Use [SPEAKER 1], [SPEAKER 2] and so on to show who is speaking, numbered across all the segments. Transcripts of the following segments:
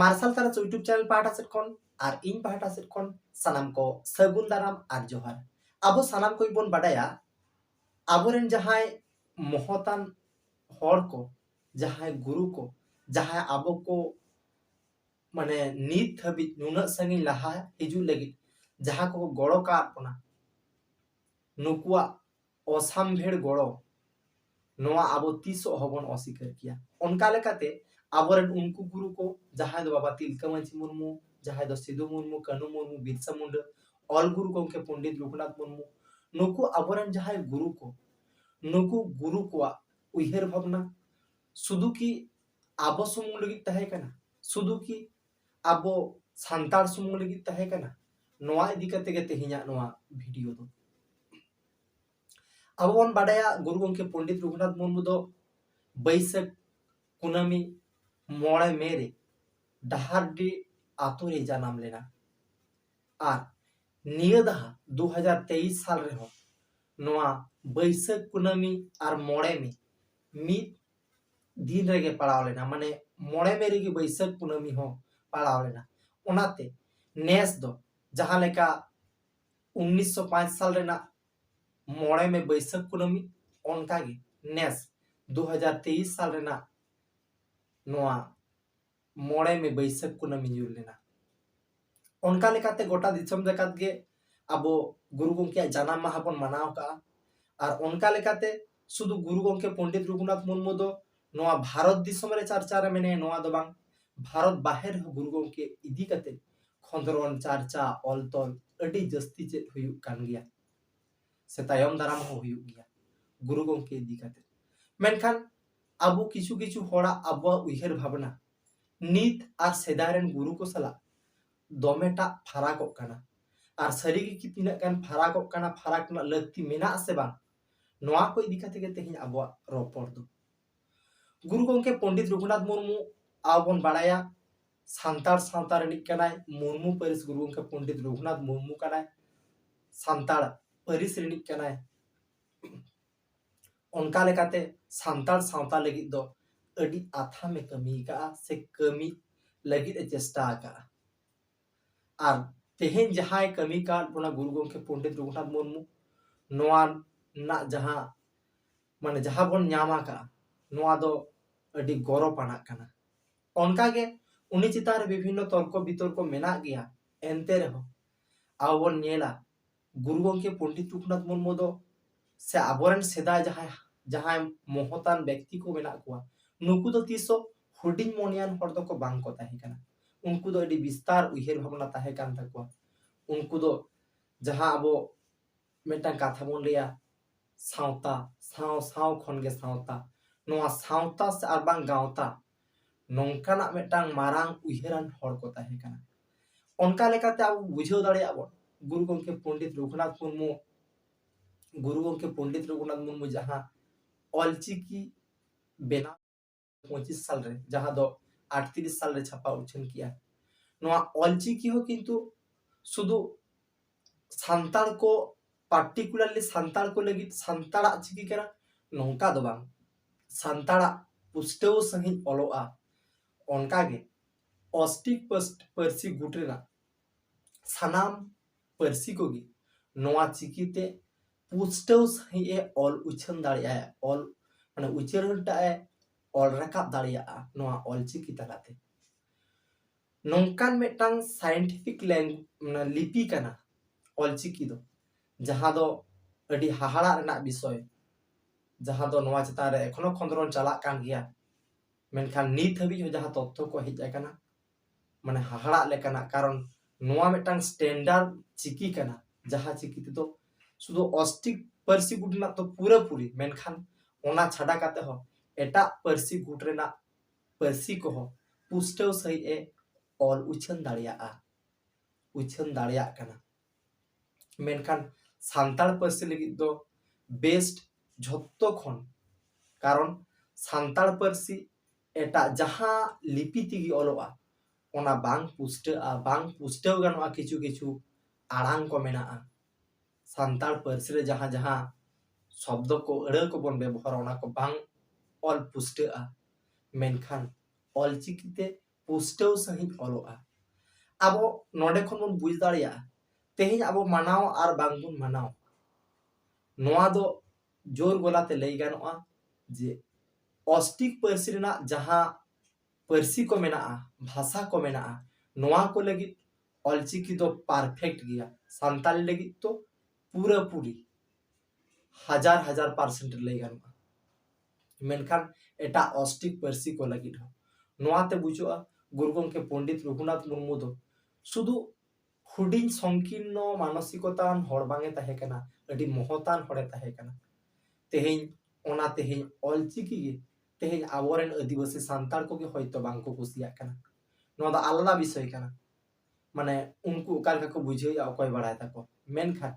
[SPEAKER 1] ᱢᱟᱨᱥᱟᱞ ᱛᱟᱨᱟᱥ YouTube channel ᱯᱟᱦᱴᱟ ᱥᱮᱫ ᱠᱷᱚᱱ ᱟᱨ ᱤᱧ ᱯᱟᱦᱴᱟ ᱥᱮᱫ ᱠᱷᱚᱱ ᱥᱟᱱᱟᱢ ᱠᱚ ᱥᱟᱹᱜᱩᱱ ᱫᱟᱨᱟᱢ ᱟᱨ ᱡᱚᱦᱟᱨ ᱟᱵᱚ ᱥᱟᱱᱟᱢ ᱠᱚ ᱵᱚᱱ ᱵᱟᱰᱟᱭᱟ ᱟᱵᱚᱨᱮᱱ ᱡᱟᱦᱟᱸᱭ ᱢᱚᱦᱚᱛᱟᱱ ᱦᱚᱲ ᱠᱚ ᱡᱟᱦᱟᱸᱭ ᱜᱩᱨᱩ ᱠᱚ ᱡᱟᱦᱟᱸᱭ ᱟᱵᱚ ᱠᱚ ᱢᱟᱱᱮ ᱱᱤᱛ ᱫᱷᱟᱹᱵᱤᱡ ᱱᱩᱱᱟᱹᱜ ᱥᱟᱺᱜᱤᱧ ᱞᱟᱦᱟ ᱦᱤᱡᱩᱜ ᱞᱟᱹᱜᱤᱫ ᱡᱟᱦᱟᱸ ᱠᱚ ᱜᱚᱲᱚ ᱠᱟᱜ ᱵᱚᱱᱟ ᱱᱩᱠᱩᱣᱟᱜ ᱚᱥᱟᱢᱵᱷᱮᱲ ᱜᱚᱲᱚ ᱱᱚᱣᱟ ᱟᱵᱚ ᱛᱤᱥ ᱦᱚᱸ ᱵᱚᱱ ᱚᱥᱤᱠᱟᱨ ᱠᱮᱭᱟ ᱚᱱᱠᱟ ᱞᱮᱠᱟᱛᱮ ᱟᱵᱚᱨᱮᱱ ᱩᱱᱠᱩ ᱜᱩᱨᱩ ᱠᱚ ᱡᱟᱦᱟᱸᱭ ᱫᱚ ᱵᱟᱵᱟ ᱛᱤᱞᱠᱟᱹ ᱢᱟᱹᱡᱷᱤ ᱢᱩᱨᱢᱩ ᱡᱟᱦᱟᱸᱭ ᱫᱚ ᱥᱤᱫᱩ ᱢᱩᱨᱢᱩ ᱠᱟᱹᱱᱩ ᱢᱩᱨᱢᱩ ᱵᱤᱨᱥᱟ ᱢᱩᱱᱰᱟᱹ ᱚᱞ ᱜᱩᱨᱩ ᱜᱚᱢᱠᱮ ᱯᱚᱱᱰᱤᱛ ᱨᱚᱜᱷᱩᱱᱟᱛᱷ ᱢᱩᱨᱢᱩ ᱱᱩᱠᱩ ᱟᱵᱚᱨᱮᱱ ᱡᱟᱦᱟᱸᱭ ᱜᱩᱨᱩ ᱠᱚ ᱱᱩᱠᱩ ᱜᱩᱨᱩ ᱠᱚᱣᱟᱜ ᱩᱭᱦᱟᱹᱨ ᱵᱷᱟᱵᱽᱱᱟ ᱥᱩᱫᱷᱩ ᱠᱤ ᱟᱵᱚ ᱥᱩᱢᱩᱝ ᱞᱟᱹᱜᱤᱫ ᱛᱟᱦᱮᱸ ᱠᱟᱱᱟ ᱥᱩᱫᱷᱩ ᱠᱤ ᱟᱵᱚ ᱥᱟᱱᱛᱟᱲ ᱥᱩᱢᱩᱝ ᱞᱟᱹᱜᱤᱫ ᱛᱟᱦᱮᱸ ᱠᱟᱱᱟ ᱱᱚᱣᱟ ᱤᱫᱤ ᱠᱟᱛᱮ ᱜᱮ ᱛᱮᱦᱮᱧᱟᱜ ᱱᱚᱣᱟ ᱵᱷᱤᱰᱤᱭᱳ ᱫᱚ ᱟᱵᱚ ᱵᱚᱱ ᱵᱟᱰᱟᱭᱟ ᱜᱩᱨᱩ ᱜᱚᱢᱠᱮ ᱯᱚᱱᱰᱤᱛ ᱨᱚᱜᱷᱩᱱᱟᱛᱷ ᱢᱩᱨᱢᱩ ᱫᱚ ᱵᱟᱹᱭᱥᱟᱹᱠᱷ ᱠᱩᱱᱟᱹᱢᱤ ᱢᱚᱬᱮ ᱢᱮ ᱨᱮ ᱰᱟᱦᱟᱨᱰᱤ ᱟᱛᱳ ᱨᱮ ᱡᱟᱱᱟᱢ ᱞᱮᱱᱟ ᱟᱨ ᱱᱤᱭᱟᱹ ᱫᱟᱦᱟ ᱫᱩ ᱦᱟᱡᱟᱨ ᱛᱮᱭᱤᱥ ᱥᱟᱞ ᱨᱮᱦᱚᱸ ᱱᱚᱣᱟ ᱵᱟᱹᱭᱥᱟᱹᱠᱷ ᱠᱩᱱᱟᱹᱢᱤ ᱟᱨ ᱢᱚᱬᱮ ᱢᱮ ᱢᱤᱫ ᱫᱤᱱ ᱨᱮᱜᱮ ᱯᱟᱲᱟᱣ ᱞᱮᱱᱟ ᱢᱟᱱᱮ ᱢᱚᱬᱮ ᱢᱮ ᱨᱮᱜᱮ ᱵᱟᱹᱭᱥᱟᱹᱠᱷ ᱠᱩᱱᱟᱹᱢᱤ ᱦᱚᱸ ᱯᱟᱲᱟᱣ ᱞᱮᱱᱟ ᱚᱱᱟᱛᱮ ᱱᱮᱥ ᱫᱚ ᱡᱟᱦᱟᱸ ᱞᱮᱠᱟ ᱩᱱᱤᱥᱥᱚ ᱯᱟᱸᱪ ᱥᱟᱞ ᱨᱮᱱᱟᱜ ᱢᱚᱬᱮ ᱢᱮ ᱵᱟᱹᱭᱥᱟᱹᱠᱷ ᱠᱩᱱᱟᱹᱢᱤ ᱚᱱᱠᱟᱜᱮ ᱱᱮᱥ ᱫᱩ ᱦᱟᱡᱟᱨ ᱛᱮᱭᱤᱥ ᱥᱟᱞ ᱨᱮᱱᱟᱜ ᱱᱚᱣᱟ ᱢᱚᱬᱮ ᱢᱮ ᱵᱟᱹᱭᱥᱟᱹᱠᱷ ᱠᱩᱱᱟᱹᱢᱤ ᱧᱩᱨ ᱞᱮᱱᱟ ᱚᱱᱠᱟ ᱞᱮᱠᱟᱛᱮ ᱜᱚᱴᱟ ᱫᱤᱥᱚᱢ ᱡᱟᱠᱟᱛ ᱜᱮ ᱟᱵᱚ ᱜᱩᱨᱩ ᱜᱚᱢᱠᱮᱭᱟᱜ ᱡᱟᱱᱟᱢ ᱢᱟᱦᱟ ᱵᱚᱱ ᱢᱟᱱᱟᱣ ᱠᱟᱜᱼᱟ ᱟᱨ ᱚᱱᱠᱟ ᱞᱮᱠᱟᱛᱮ ᱥᱩᱫᱷᱩ ᱜᱩᱨᱩ ᱜᱚᱢᱠᱮ ᱯᱚᱱᱰᱤᱛ ᱨᱚᱜᱷᱩᱱᱟᱛᱷ ᱢᱩᱨᱢᱩ ᱫᱚ ᱱᱚᱣᱟ ᱵᱷᱟᱨᱚᱛ ᱫᱤᱥᱚᱢ ᱨᱮ ᱪᱟᱨᱪᱟ ᱨᱮ ᱢᱮᱱᱟᱭᱟ ᱱᱚᱣᱟ ᱫᱚ ᱵᱟᱝ ᱵᱷᱟᱨᱚᱛ ᱵᱟᱦᱮᱨ ᱨᱮᱦᱚᱸ ᱜᱩᱨᱩ ᱜᱚᱢᱠᱮ ᱤᱫᱤ ᱠᱟᱛᱮ ᱠᱷᱚᱸᱫᱽᱨᱚᱱ ᱪᱟᱨᱪᱟ ᱚᱞ ᱛᱚᱞ ᱟᱹᱰᱤ ᱡᱟᱹᱥᱛᱤ ᱪᱮᱫ ᱦᱩᱭᱩᱜ ᱠᱟᱱ ᱜᱮᱭᱟ ᱥᱮ ᱛᱟᱭᱚᱢ ᱫᱟᱨᱟᱢ ᱦᱚᱸ ᱦᱩᱭᱩᱜ ᱜᱮᱭᱟ ᱜᱩᱨᱩ ᱜᱚᱢᱠᱮ ᱤᱫᱤ ᱠᱟᱛᱮ ᱢᱮᱱᱠᱷᱟᱱ ᱟᱵᱚ ᱠᱤᱪᱷᱩ ᱠᱤᱪᱷᱩ ᱦᱚᱲᱟᱜ ᱟᱵᱚᱣᱟᱜ ᱩᱭᱦᱟᱹᱨ ᱵᱷᱟᱵᱽᱱᱟ ᱱᱤᱛ ᱟᱨ ᱥᱮᱫᱟᱭ ᱨᱮᱱ ᱜᱩᱨᱩ ᱠᱚ ᱥᱟᱞᱟᱜ ᱫᱚᱢᱮᱴᱟᱜ ᱯᱷᱟᱨᱟᱠᱚᱜ ᱠᱟᱱᱟ ᱟᱨ ᱥᱟᱹᱨᱤᱜᱮ ᱠᱤ ᱛᱤᱱᱟᱹᱜ ᱜᱟᱱ ᱯᱷᱟᱨᱟᱠᱚᱜ ᱠᱟᱱᱟ ᱯᱷᱟᱨᱟᱠ ᱨᱮᱱᱟᱜ ᱞᱟᱹᱠᱛᱤ ᱢᱮᱱᱟᱜ ᱟᱥᱮ ᱵᱟᱝ ᱱᱚᱣᱟ ᱠᱚ ᱤᱫᱤ ᱠᱟᱛᱮ ᱜᱮ ᱛᱮᱦᱮᱧ ᱟᱵᱚᱣᱟᱜ ᱨᱚᱯᱚᱲ ᱫᱚ ᱜᱩᱨᱩ ᱜᱚᱢᱠᱮ ᱯᱚᱱᱰᱤᱛ ᱨᱚᱜᱷᱩᱱᱟᱛᱷ ᱢᱩᱨᱢᱩ ᱟᱵᱚ ᱵᱚᱱ ᱵᱟᱲᱟᱭᱟ ᱥᱟᱱᱛᱟᱲ ᱥᱟᱶᱛᱟ ᱨᱤᱱᱤᱡ ᱠᱟᱱᱟᱭ ᱢᱩᱨᱢᱩ ᱯᱟᱹᱨᱤᱥ ᱜᱩᱨᱩ ᱜᱚᱢᱠᱮ ᱯᱚᱱᱰᱤᱛ ᱨᱚᱜᱷᱩᱱᱟᱛᱷ ᱢᱩᱨᱢᱩ ᱠᱟᱱᱟᱭ ᱥᱟᱱᱛᱟᱲ ᱯᱟᱹᱨᱤᱥ ᱨᱤᱱᱤᱡ ᱠᱟᱱᱟᱭ ᱚᱱᱠᱟ ᱞᱮᱠᱟᱛᱮ ᱥᱟᱱᱛᱟᱲ ᱥᱟᱶᱛᱟ ᱞᱟᱹᱜᱤᱫ ᱫᱚ ᱟᱹᱰᱤ ᱟᱛᱷᱟᱢᱮ ᱠᱟᱹᱢᱤ ᱟᱠᱟᱫᱼᱟ ᱥᱮ ᱠᱟᱹᱢᱤ ᱞᱟᱹᱜᱤᱫ ᱮ ᱪᱮᱥᱴᱟ ᱟᱠᱟᱫᱼᱟ ᱟᱨ ᱛᱮᱦᱮᱧ ᱡᱟᱦᱟᱸᱭ ᱠᱟᱹᱢᱤ ᱠᱟᱱ ᱚᱱᱟ ᱜᱩᱨᱩ ᱜᱚᱢᱠᱮ ᱯᱚᱱᱰᱤᱛ ᱨᱚᱜᱷᱩᱱᱟᱛᱷ ᱢᱩᱨᱢᱩ ᱱᱚᱣᱟ ᱨᱮᱱᱟᱜ ᱡᱟᱦᱟᱸ ᱢᱟᱱᱮ ᱡᱟᱦᱟᱸ ᱵᱚᱱ ᱧᱟᱢ ᱟᱠᱟᱫᱼᱟ ᱱᱚᱣᱟ ᱫᱚ ᱟᱹᱰᱤ ᱜᱚᱨᱚᱵᱽ ᱟᱱᱟᱜ ᱠᱟᱱᱟ ᱚᱱᱠᱟ ᱜᱮ ᱩᱱᱤ ᱪᱮᱛᱟᱱ ᱨᱮ ᱵᱤᱵᱷᱤᱱᱱᱚ ᱛᱚᱨᱠᱚ ᱵᱤᱛᱚᱨᱠᱚ ᱢᱮᱱᱟᱜ ᱜᱮᱭᱟ ᱮᱱᱛᱮ ᱨᱮᱦᱚᱸ ᱟᱵᱚ ᱵᱚᱱ ᱧᱮᱞᱟ ᱜᱩᱨᱩ ᱜᱚᱢᱠᱮ ᱯᱚᱱᱰᱤᱛ ᱨᱚᱜᱷᱩᱱᱟᱛᱷ ᱢᱩᱨᱢᱩ ᱫᱚ ᱥᱮ ᱟᱵᱚᱨᱮᱱ ᱥᱮᱫᱟᱭ ᱡᱟᱦᱟᱸᱭ ᱡᱟᱦᱟᱸᱭ ᱢᱚᱦᱚᱛᱟᱱ ᱵᱮᱠᱛᱤ ᱠᱚ ᱢᱮᱱᱟᱜ ᱠᱚᱣᱟ ᱱᱩᱠᱩ ᱫᱚ ᱛᱤᱥ ᱦᱚᱸ ᱦᱩᱰᱤᱧ ᱢᱚᱱᱮᱭᱟᱱ ᱦᱚᱲ ᱫᱚᱠᱚ ᱵᱟᱝ ᱠᱚ ᱛᱟᱦᱮᱸ ᱠᱟᱱᱟ ᱩᱱᱠᱩ ᱫᱚ ᱟᱹᱰᱤ ᱵᱤᱥᱛᱟᱨ ᱩᱭᱦᱟᱹᱨ ᱵᱷᱟᱵᱽᱱᱟ ᱛᱟᱦᱮᱸ ᱠᱟᱱ ᱛᱟᱠᱚᱣᱟ ᱩᱱᱠᱩ ᱫᱚ ᱡᱟᱦᱟᱸ ᱟᱵᱚ ᱢᱤᱫᱴᱟᱝ ᱠᱟᱛᱷᱟ ᱵᱚᱱ ᱞᱟᱹᱭᱟ ᱥᱟᱶᱛᱟ ᱥᱟᱶ ᱥᱟᱶ ᱠᱷᱚᱱ ᱜᱮ ᱥᱟᱶᱛᱟ ᱱᱚᱣᱟ ᱥᱟᱶᱛᱟ ᱥᱮ ᱟᱨ ᱵᱟᱝ ᱜᱟᱶᱛᱟ ᱱᱚᱝᱠᱟᱱᱟᱜ ᱢᱤᱫᱴᱟᱝ ᱢᱟᱨᱟᱝ ᱩᱭᱦᱟᱹᱨᱟᱱ ᱦᱚᱲ ᱠᱚ ᱛᱟᱦᱮᱸ ᱠᱟᱱᱟ ᱚᱱᱠᱟ ᱞᱮᱠᱟᱛᱮ ᱟᱵᱚ ᱵᱩᱡᱷᱟᱹᱣ ᱫᱟᱲᱮᱭᱟᱜ ᱵᱚᱱ ᱜᱩᱨᱩ ᱜᱚᱢᱠᱮ ᱯᱚᱱᱰᱤᱛ ᱨᱚᱜᱷᱩᱱᱟᱛᱷ ᱢᱩᱨᱢᱩ ᱜᱩᱨᱩ ᱜᱚᱢᱠᱮ ᱯᱚᱱᱰᱤᱛ ᱨᱚᱜᱷᱩᱱᱟᱛᱷ ᱢᱩᱨᱢᱩ ᱡᱟᱦᱟᱸ ᱚᱞᱪᱤᱠᱤ ᱵᱮᱱᱟᱣ ᱯᱚᱸᱪᱤᱥ ᱥᱟᱞ ᱨᱮ ᱡᱟᱦᱟᱸ ᱫᱚ ᱟᱴᱛᱨᱤᱥ ᱥᱟᱞ ᱨᱮ ᱪᱷᱟᱯᱟ ᱩᱪᱷᱟᱹᱱ ᱠᱮᱜᱼᱟ ᱱᱚᱣᱟ ᱚᱞᱪᱤᱠᱤ ᱦᱚᱸ ᱠᱤᱱᱛᱩ ᱥᱩᱫᱷᱩ ᱥᱟᱱᱛᱟᱲ ᱠᱚ ᱯᱟᱨᱴᱤᱠᱩᱞᱟᱨᱞᱤ ᱥᱟᱱᱛᱟᱲ ᱠᱚ ᱞᱟᱹᱜᱤᱫ ᱥᱟᱱᱛᱟᱲᱟᱜ ᱪᱤᱠᱤ ᱠᱟᱱᱟ ᱱᱚᱝᱠᱟ ᱫᱚ ᱵᱟᱝ ᱥᱟᱱᱛᱟᱲᱟᱜ ᱯᱩᱥᱴᱟᱹᱣ ᱥᱟᱺᱦᱤᱡ ᱚᱞᱚᱜᱼᱟ ᱚᱱᱠᱟᱜᱮ ᱚᱥᱴᱤᱠ ᱯᱟᱹᱨᱥᱤ ᱜᱩᱴ ᱨᱮᱱᱟᱜ ᱥᱟᱱᱟᱢ ᱯᱟᱹᱨᱥᱤ ᱠᱚᱜᱮ ᱱᱚᱣᱟ ᱪᱤᱠᱤᱛᱮ ᱯᱩᱥᱴᱟᱹᱣ ᱥᱟᱺᱦᱤᱡ ᱮ ᱚᱞ ᱩᱪᱷᱟᱹᱱ ᱫᱟᱲᱮᱭᱟᱜᱼᱟ ᱚᱞ ᱢᱟᱱᱮ ᱩᱪᱟᱹᱨ ᱴᱟᱜ ᱮ ᱚᱞ ᱨᱟᱠᱟᱵ ᱫᱟᱲᱮᱭᱟᱜᱼᱟ ᱱᱚᱣᱟ ᱚᱞᱪᱤᱠᱤ ᱛᱟᱞᱟᱛᱮ ᱱᱚᱝᱠᱟᱱ ᱢᱤᱫᱴᱟᱝ ᱥᱟᱭᱮᱱᱴᱤᱯᱷᱤᱠ ᱞᱤᱯᱤ ᱠᱟᱱᱟ ᱚᱞᱪᱤᱠᱤ ᱫᱚ ᱡᱟᱦᱟᱸ ᱫᱚ ᱟᱹᱰᱤ ᱦᱟᱦᱟᱲᱟᱜ ᱨᱮᱱᱟᱜ ᱵᱤᱥᱚᱭ ᱡᱟᱦᱟᱸ ᱫᱚ ᱱᱚᱣᱟ ᱪᱮᱛᱟᱱ ᱨᱮ ᱮᱠᱷᱚᱱᱳ ᱠᱷᱚᱸᱫᱽᱨᱚᱱ ᱪᱟᱞᱟᱜ ᱠᱟᱱ ᱜᱮᱭᱟ ᱢᱮᱱᱠᱷᱟᱱ ᱱᱤᱛ ᱦᱟᱹᱵᱤᱡ ᱦᱚᱸ ᱡᱟᱦᱟᱸ ᱛᱚᱛᱛᱷᱚ ᱠᱚ ᱦᱮᱡ ᱟᱠᱟᱱᱟ ᱢᱟᱱᱮ ᱦᱟᱦᱟᱲᱟᱜ ᱞᱮᱠᱟᱱᱟᱜ ᱠᱟᱨᱚᱱ ᱱᱚᱣᱟ ᱢᱤᱫᱴᱟᱝ ᱥᱴᱮᱱᱰᱟᱨᱰ ᱪᱤᱠᱤ ᱠᱟᱱᱟ ᱡᱟᱦᱟᱸ ᱪᱤᱠᱤ ᱛᱮᱫᱚ ᱥᱩᱫᱷᱩ ᱚᱥᱴᱤᱠ ᱯᱟᱹᱨᱥᱤ ᱜᱩᱴ ᱨᱮᱱᱟᱜ ᱫᱚ ᱯᱩᱨᱟᱹᱯᱩᱨᱤ ᱢᱮᱱᱠᱷᱟᱱ ᱚᱱᱟ ᱪᱷᱟᱰᱟ ᱠᱟᱛᱮ ᱦᱚᱸ ᱮᱴᱟᱜ ᱯᱟᱹᱨᱥᱤ ᱜᱩᱴ ᱨᱮᱱᱟᱜ ᱯᱟᱹᱨᱥᱤ ᱠᱚᱦᱚᱸ ᱯᱩᱥᱴᱟᱹᱣ ᱥᱟᱺᱦᱤᱡ ᱮ ᱚᱞ ᱩᱪᱷᱟᱹᱱ ᱫᱟᱲᱮᱭᱟᱜᱼᱟ ᱩᱪᱷᱟᱹᱱ ᱫᱟᱲᱮᱭᱟᱜ ᱠᱟᱱᱟ ᱢᱮᱱᱠᱷᱟᱱ ᱥᱟᱱᱛᱟᱲ ᱯᱟᱹᱨᱥᱤ ᱞᱟᱹᱜᱤᱫ ᱫᱚ ᱵᱮᱥᱴ ᱡᱷᱚᱛᱚ ᱠᱷᱚᱱ ᱠᱟᱨᱚᱱ ᱥᱟᱱᱛᱟᱲ ᱯᱟᱹᱨᱥᱤ ᱮᱴᱟᱜ ᱡᱟᱦᱟᱸ ᱞᱤᱯᱤ ᱛᱮᱜᱮ ᱚᱞᱚᱜᱼᱟ ᱚᱱᱟ ᱵᱟᱝ ᱯᱩᱥᱴᱟᱹᱜᱼᱟ ᱵᱟᱝ ᱯᱩᱥᱴᱟᱹᱣ ᱜᱟᱱᱚᱜᱼᱟ ᱠᱤᱪᱷᱩ ᱠᱤᱪᱷᱩ ᱟᱲᱟᱝ ᱠᱚ ᱢᱮᱱᱟᱜᱼᱟ ᱥᱟᱱᱛᱟᱲ ᱯᱟᱹᱨᱥᱤ ᱨᱮ ᱡᱟᱦᱟᱸ ᱡᱟᱦᱟᱸ ᱥᱚᱵᱫᱚ ᱠᱚ ᱟᱹᱲᱟᱹ ᱠᱚᱵᱚᱱ ᱵᱮᱵᱚᱦᱟᱨᱟ ᱚᱱᱟ ᱠᱚ ᱵᱟᱝ ᱚᱞ ᱯᱩᱥᱴᱟᱹᱜᱼᱟ ᱢᱮᱱᱠᱷᱟᱱ ᱚᱞᱪᱤᱠᱤᱛᱮ ᱯᱩᱥᱴᱟᱹᱣ ᱥᱟᱺᱦᱤᱡ ᱚᱞᱚᱜᱼᱟ ᱟᱵᱚ ᱱᱚᱰᱮ ᱠᱷᱚᱱ ᱵᱚᱱ ᱵᱩᱡᱽ ᱫᱟᱲᱮᱭᱟᱜᱼᱟ ᱛᱮᱦᱮᱧ ᱟᱵᱚ ᱢᱟᱱᱟᱣ ᱟᱨ ᱵᱟᱝ ᱵᱚᱱ ᱢᱟᱱᱟᱣ ᱱᱚᱣᱟ ᱫᱚ ᱡᱳᱨ ᱜᱚᱞᱟᱛᱮ ᱞᱟᱹᱭ ᱜᱟᱱᱚᱜᱼᱟ ᱡᱮ ᱚᱥᱴᱤᱠ ᱯᱟᱹᱨᱥᱤ ᱨᱮᱱᱟᱜ ᱡᱟᱦᱟᱸ ᱯᱟᱹᱨᱥᱤ ᱠᱚ ᱢᱮᱱᱟᱜᱼᱟ ᱵᱷᱟᱥᱟ ᱠᱚ ᱢᱮᱱᱟᱜᱼᱟ ᱱᱚᱣᱟ ᱠᱚ ᱞᱟᱹᱜᱤᱫ ᱚᱞᱪᱤᱠᱤ ᱫᱚ ᱯᱟᱨᱯᱷᱮᱠᱴ ᱜᱮᱭᱟ ᱥᱟᱱᱛᱟᱲ ᱞᱟᱹᱜᱤᱫ ᱫᱚ ᱯᱩᱨᱟᱹᱯᱩᱨᱤ ᱦᱟᱡᱟᱨ ᱦᱟᱡᱟᱨ ᱯᱟᱨᱥᱮᱱᱴ ᱞᱟᱹᱭ ᱜᱟᱱᱚᱜᱼᱟ ᱢᱮᱱᱠᱷᱟᱱ ᱮᱴᱟᱜ ᱚᱥᱴᱤᱠ ᱯᱟᱹᱨᱥᱤ ᱠᱚ ᱞᱟᱹᱜᱤᱫ ᱦᱚᱸ ᱱᱚᱣᱟᱛᱮ ᱵᱩᱡᱷᱟᱹᱜᱼᱟ ᱜᱩᱨᱩ ᱜᱚᱢᱠᱮ ᱯᱚᱱᱰᱤᱛ ᱨᱚᱜᱷᱩᱱᱟᱛᱷ ᱢᱩᱨᱢᱩ ᱫᱚ ᱥᱩᱫᱷᱩ ᱦᱩᱰᱤᱧ ᱥᱚᱝᱠᱤᱨᱱᱚ ᱢᱟᱱᱚᱥᱤᱠᱚᱛᱟᱱ ᱦᱚᱲ ᱵᱟᱝᱮ ᱛᱟᱦᱮᱸ ᱠᱟᱱᱟ ᱟᱹᱰᱤ ᱢᱚᱦᱚᱛᱟᱱ ᱦᱚᱲᱮ ᱛᱟᱦᱮᱸ ᱠᱟᱱᱟ ᱛᱮᱦᱮᱧ ᱚᱱᱟ ᱛᱮᱦᱮᱧ ᱚᱞᱪᱤᱠᱤ ᱜᱮ ᱛᱮᱦᱮᱧ ᱟᱵᱚᱨᱮᱱ ᱟᱹᱫᱤᱵᱟᱹᱥᱤ ᱥᱟᱱᱛᱟᱲ ᱠᱚᱜᱮ ᱦᱚᱭᱛᱚ ᱵᱟᱝᱠᱚ ᱠᱩᱥᱤᱭᱟᱜ ᱠᱟᱱᱟ ᱱᱚᱣᱟ ᱫᱚ ᱟᱞᱟᱫᱟ ᱵᱤᱥᱚᱭ ᱠᱟᱱᱟ ᱢᱟᱱᱮ ᱩᱱᱠᱩ ᱚᱠᱟ ᱞᱮᱠᱟ ᱠᱚ ᱵᱩᱡᱷᱟᱹᱣᱮᱫᱼᱟ ᱚᱠᱚᱭ ᱵᱟᱲᱟᱭ ᱛᱟᱠᱚ ᱢᱮᱱᱠᱷᱟᱱ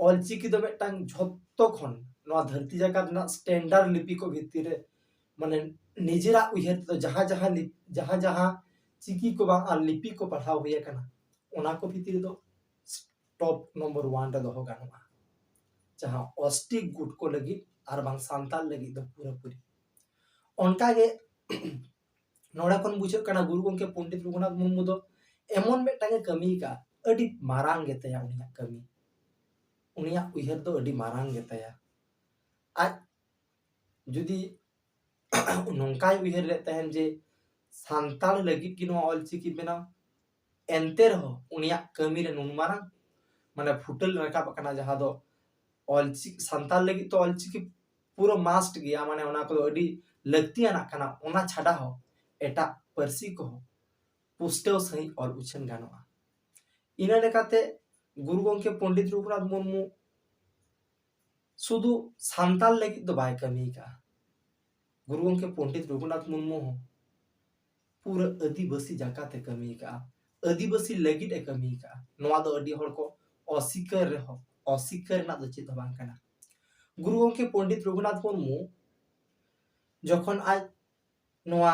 [SPEAKER 1] ᱚᱞᱪᱤᱠᱤ ᱫᱚ ᱢᱤᱫᱴᱟᱝ ᱡᱷᱚᱛᱚ ᱠᱷᱚᱱ ᱱᱚᱣᱟ ᱫᱷᱟᱹᱨᱛᱤ ᱡᱟᱠᱟᱛ ᱨᱮᱱᱟᱜ ᱥᱴᱮᱱᱰᱟᱨᱰ ᱞᱤᱯᱤ ᱠᱚ ᱵᱷᱤᱛᱤᱨ ᱨᱮ ᱢᱟᱱᱮ ᱱᱤᱡᱮᱨᱟᱜ ᱩᱭᱦᱟᱹᱨ ᱛᱮᱫᱚ ᱡᱟᱦᱟᱸ ᱡᱟᱦᱟᱸ ᱡᱟᱦᱟᱸ ᱡᱟᱦᱟᱸ ᱪᱤᱠᱤ ᱠᱚ ᱵᱟᱝ ᱟᱨ ᱞᱤᱯᱤ ᱠᱚ ᱯᱟᱲᱦᱟᱣ ᱦᱩᱭ ᱟᱠᱟᱱᱟ ᱚᱱᱟ ᱠᱚ ᱵᱷᱤᱛᱤᱨ ᱨᱮᱫᱚ ᱴᱚᱯ ᱱᱚᱢᱵᱚᱨ ᱳᱣᱟᱱ ᱨᱮ ᱫᱚᱦᱚ ᱜᱟᱱᱚᱜᱼᱟ ᱡᱟᱦᱟᱸ ᱚᱥᱴᱤᱠ ᱜᱩᱴ ᱠᱚ ᱞᱟᱹᱜᱤᱫ ᱟᱨ ᱵᱟᱝ ᱥᱟᱱᱛᱟᱲ ᱞᱟᱹᱜᱤᱫ ᱫᱚ ᱯᱩᱨᱟᱹᱯᱩᱨᱤ ᱚᱱᱠᱟᱜᱮ ᱱᱚᱰᱮ ᱠᱷᱚᱱ ᱵᱩᱡᱷᱟᱹᱜ ᱠᱟᱱᱟ ᱜᱩᱨᱩ ᱜᱚᱢᱠᱮ ᱯᱚᱱᱰᱤᱛ ᱨᱚᱜᱷᱩᱱᱟᱛᱷ ᱢᱩᱨᱢᱩ ᱫᱚ ᱮᱢᱚᱱ ᱢᱤᱫᱴᱟᱝ ᱮ ᱠᱟᱹᱢᱤ ᱟᱠᱟᱫᱼᱟ ᱟᱹᱰᱤ ᱢᱟᱨᱟᱝ ᱜᱮᱛᱟᱭᱟ ᱩᱱᱤᱭᱟᱜ ᱠᱟᱹᱢᱤ ᱩᱱᱤᱭᱟᱜ ᱩᱭᱦᱟᱹᱨ ᱫᱚ ᱟᱹᱰᱤ ᱢᱟᱨᱟᱝ ᱜᱮᱛᱟᱭᱟ ᱟᱡ ᱡᱩᱫᱤ ᱱᱚᱝᱠᱟᱭ ᱩᱭᱦᱟᱹᱨ ᱞᱮᱫ ᱛᱟᱦᱮᱱ ᱡᱮ ᱥᱟᱱᱛᱟᱲ ᱞᱟᱹᱜᱤᱫ ᱜᱮ ᱱᱚᱣᱟ ᱚᱞᱪᱤᱠᱤ ᱵᱮᱱᱟᱣ ᱮᱱᱛᱮ ᱨᱮᱦᱚᱸ ᱩᱱᱤᱭᱟᱜ ᱠᱟᱹᱢᱤ ᱨᱮ ᱱᱩᱱ ᱢᱟᱨᱟᱝ ᱢᱟᱱᱮ ᱯᱷᱩᱴᱟᱹᱞ ᱨᱟᱠᱟᱵ ᱟᱠᱟᱱᱟ ᱡᱟᱦᱟᱸ ᱫᱚ ᱚᱞ ᱪᱤᱠᱤ ᱥᱟᱱᱛᱟᱲ ᱞᱟᱹᱜᱤᱫ ᱛᱮ ᱚᱞ ᱪᱤᱠᱤ ᱯᱩᱨᱟᱹ ᱢᱟᱥᱴ ᱜᱮᱭᱟ ᱢᱟᱱᱮ ᱚᱱᱟ ᱠᱚᱫᱚ ᱟᱹᱰᱤ ᱞᱟᱹᱠᱛᱤᱭᱟᱱᱟᱜ ᱠᱟᱱᱟ ᱚᱱᱟ ᱪᱷᱟᱰᱟ ᱦᱚᱸ ᱮᱴᱟᱜ ᱯᱟᱹᱨᱥᱤ ᱠᱚᱦᱚᱸ ᱯᱩᱥᱴᱟᱹᱣ ᱥᱟᱺᱦᱤᱡ ᱚᱞ ᱩᱪᱷᱟᱹᱱ ᱜᱟᱱᱚᱜᱼᱟ ᱤᱱᱟᱹ ᱞᱮᱠᱟᱛᱮ ᱜᱩᱨᱩ ᱜᱚᱢᱠᱮ ᱯᱚᱱᱰᱤᱛ ᱨᱚᱜᱷᱩᱱᱟᱛᱷ ᱢᱩᱨᱢᱩ ᱥᱩᱫᱷᱩ ᱥᱟᱱᱛᱟᱲ ᱞᱟᱹᱜᱤᱫ ᱫᱚ ᱵᱟᱭ ᱠᱟᱹᱢᱤ ᱟᱠᱟᱫᱼᱟ ᱜᱩᱨᱩ ᱜᱚᱢᱠᱮ ᱯᱚᱱᱰᱤᱛ ᱨᱚᱜᱷᱩᱱᱟᱛᱷ ᱢᱩᱨᱢᱩ ᱦᱚᱸ ᱯᱩᱨᱟᱹ ᱟᱹᱫᱤᱵᱟᱹᱥᱤ ᱡᱟᱠᱟᱛ ᱮ ᱠᱟᱹᱢᱤ ᱟᱠᱟᱫᱼᱟ ᱟᱹᱫᱤᱵᱟᱹᱥᱤ ᱞᱟᱹᱜᱤᱫ ᱮ ᱠᱟᱹᱢᱤ ᱟᱠᱟᱫᱼᱟ ᱱᱚᱣᱟ ᱫᱚ ᱟᱹᱰᱤ ᱦᱚᱲ ᱠᱚ ᱚᱥᱤᱠᱟᱹᱨ ᱨᱮᱦᱚᱸ ᱚᱥᱤᱠᱟᱹᱨ ᱨᱮᱱᱟᱜ ᱫᱚ ᱪᱮᱫ ᱦᱚᱸ ᱵᱟᱝ ᱠᱟᱱᱟ ᱜᱩᱨᱩ ᱜᱚᱢᱠᱮ ᱯᱚᱱᱰᱤᱛ ᱨᱚᱜᱷᱩᱱᱟᱛᱷ ᱢᱩᱨᱢᱩ ᱡᱚᱠᱷᱚᱱ ᱟᱡ ᱱᱚᱣᱟ